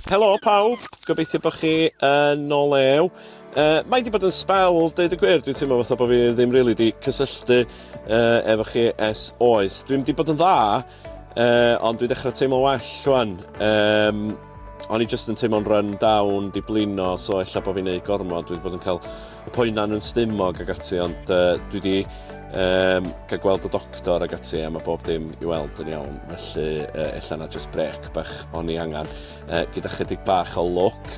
Helo pawb, gobeithio bod chi yn o lew. Uh, mae wedi bod yn spel, dweud y gwir, dwi'n teimlo fatha bod fi ddim rili really wedi cysylltu uh, efo chi es oes. Dwi'n wedi bod yn dda, uh, ond dwi'n dechrau teimlo well rwan. Um, o'n i jyst yn teimlo'n run down, di blino, so ella bod fi'n neud gormod, dwi'n bod yn cael y poenan yn stumog ac ati, ond uh, dwi wedi um, cael gweld y doctor ac ati a mae bob dim i weld yn iawn, felly uh, ella na just brec bach o'n i angen, uh, gyda chydig bach o look.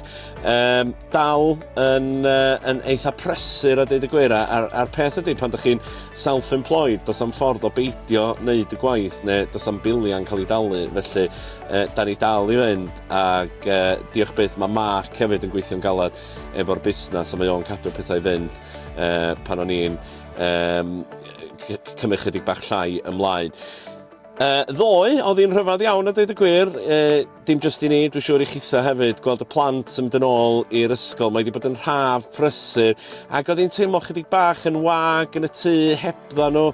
Um, dal yn, uh, yn eitha presur a dweud y gwir, a'r, ar peth ydy pan ydych chi'n self-employed, dos am ffordd o beidio wneud y gwaith neu dos am biliau'n cael ei dalu, felly uh, da ni dal i fynd ac uh, diolch byth mae Mark hefyd yn gweithio'n galed efo'r busnes a mae o'n cadw pethau i fynd uh, pan o'n i'n um, cymryd chydig bach llai ymlaen. Uh, ddoe, oedd hi'n rhyfedd iawn a dweud y gwir, uh, dim jyst i ni, dwi'n siŵr i chitha hefyd, gweld y plant yn mynd yn ôl i'r ysgol, mae wedi bod yn rhaf prysur, ac oedd hi'n teimlo chydig bach yn wag yn y tŷ hebdda nhw,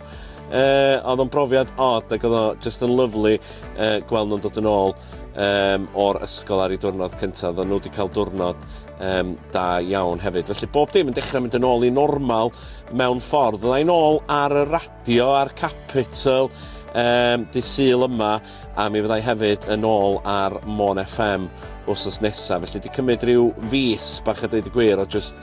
uh, oedd o'n brofiad od ac oedd o jyst yn lyflu uh, gweld nhw'n dod yn ôl. um, o'r ysgol ar ei diwrnod cyntaf. Oedden nhw wedi cael diwrnod um, da iawn hefyd. Felly bob dim yn dechrau mynd yn ôl i normal mewn ffordd. Oedden nhw'n ôl ar y radio, ar Capital, um, di syl yma, a mi fyddai hefyd yn ôl ar Mon FM wrth nesaf. Felly di cymryd rhyw fus bach a dweud y gwir o just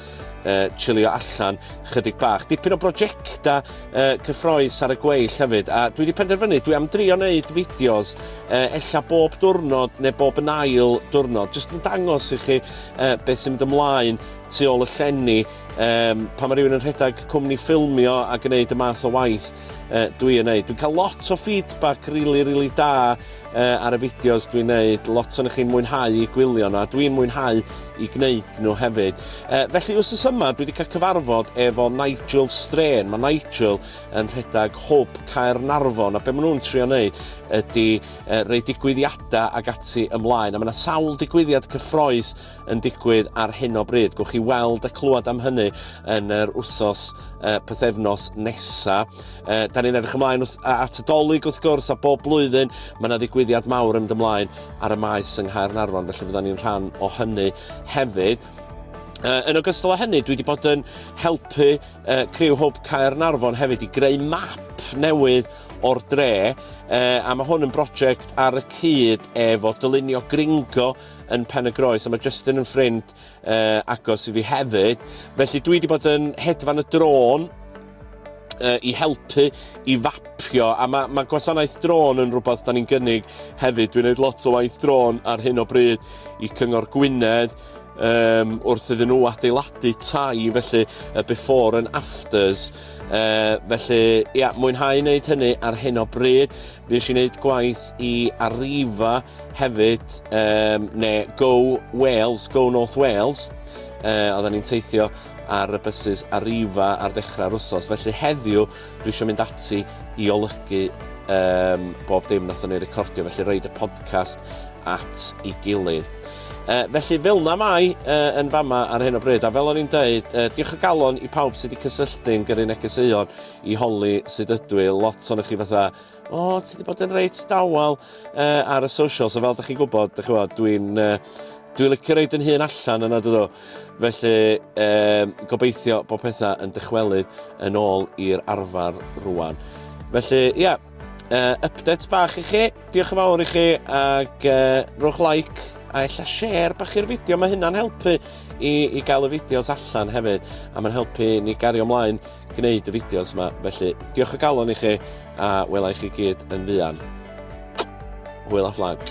uh, chilio allan chydig bach. Dipyn o brosiectau uh, cyffroes ar y gweill hefyd, a dwi wedi penderfynu, dwi am drio wneud fideos uh, ella bob diwrnod neu bob yn ail diwrnod, jyst yn dangos i chi uh, beth sy'n mynd ymlaen tu ôl y llenni, um, pa mae rhywun yn rhedeg cwmni ffilmio a gwneud y math o waith uh, dwi yn neud. Dwi'n cael lot o feedback rili, really, rili really da uh, ar y fideos dwi'n neud, lot o'n chi'n mwynhau i gwylio nhw, a dwi'n mwynhau i gwneud nhw hefyd. Uh, felly, wrth ys yma, dwi wedi cael cyfarfod efo Nigel Strain. Mae Nigel yn rhedeg Hwb Caernarfon, a be maen nhw'n trio wneud ydy uh, rei digwyddiadau ag ati ymlaen. A mae yna sawl digwyddiad cyffroes yn digwydd ar hyn o bryd. Gwch chi weld a clywed am hynny yn yr wsos uh, pethefnos nesa. Uh, da ni'n edrych ymlaen wrth, at y dolyg wrth gwrs a bob blwyddyn mae yna ddigwyddiad mawr yn mynd ymlaen ar y maes yng Nghaernarfon felly fydda ni'n rhan o hynny hefyd. Uh, yn ogystal â hynny, dwi wedi bod yn helpu uh, Criw Hwb Caernarfon hefyd i greu map newydd o'r dre, uh, a mae hwn yn brosiect ar y cyd efo dylunio gringo yn Pen-y-groes a mae Justin yn ffrind uh, agos i fi hefyd. Felly dwi wedi bod yn hedfan y drôn uh, i helpu i fapio a mae, mae gwasanaeth drôn yn rhywbeth da ni'n gynnig hefyd. Dwi'n gwneud lot o waith drôn ar hyn o bryd i Cyngor Gwynedd um, wrth iddyn nhw adeiladu tai felly y before and afters. Uh, felly, ia, mwynhau wneud hynny ar hyn o bryd. Fues i'n neud gwaith i Arriva hefyd, um, ne Go Wales, Go North Wales. Uh, oedden ni'n teithio ar y bysus Arriva ar ddechrau'r wsos. Felly heddiw, dwi eisiau mynd ati i olygu um, bob dim nath ni recordio, felly roed y podcast at ei gilydd. Uh, felly fel na mai uh, yn fama ar hyn o bryd, a fel o'n i'n dweud, uh, diolch o galon i pawb sydd wedi cysylltu'n gyrru negeseuon i holi sut ydw i, lot ohonoch chi fatha o ti 'di bod yn reit dawel uh, ar y socials a fel ydych chi'n gwybod, dych chi'n dwi'n uh, dwi'n licio reid yn hun allan yna dydw. Felly uh, gobeithio bod pethau yn dychwelyd yn ôl i'r arfer rwan. Felly ia, yeah, uh, update bach i chi, diolch yn fawr i chi ac uh, rhowch like a ella share bach i'r fideo, mae hynna'n helpu i, i gael y fideos allan hefyd a mae'n helpu ni gario ymlaen gwneud y fideos yma, felly diolch o galon i chi a wela i chi gyd yn fuan. Hwyl a fflag.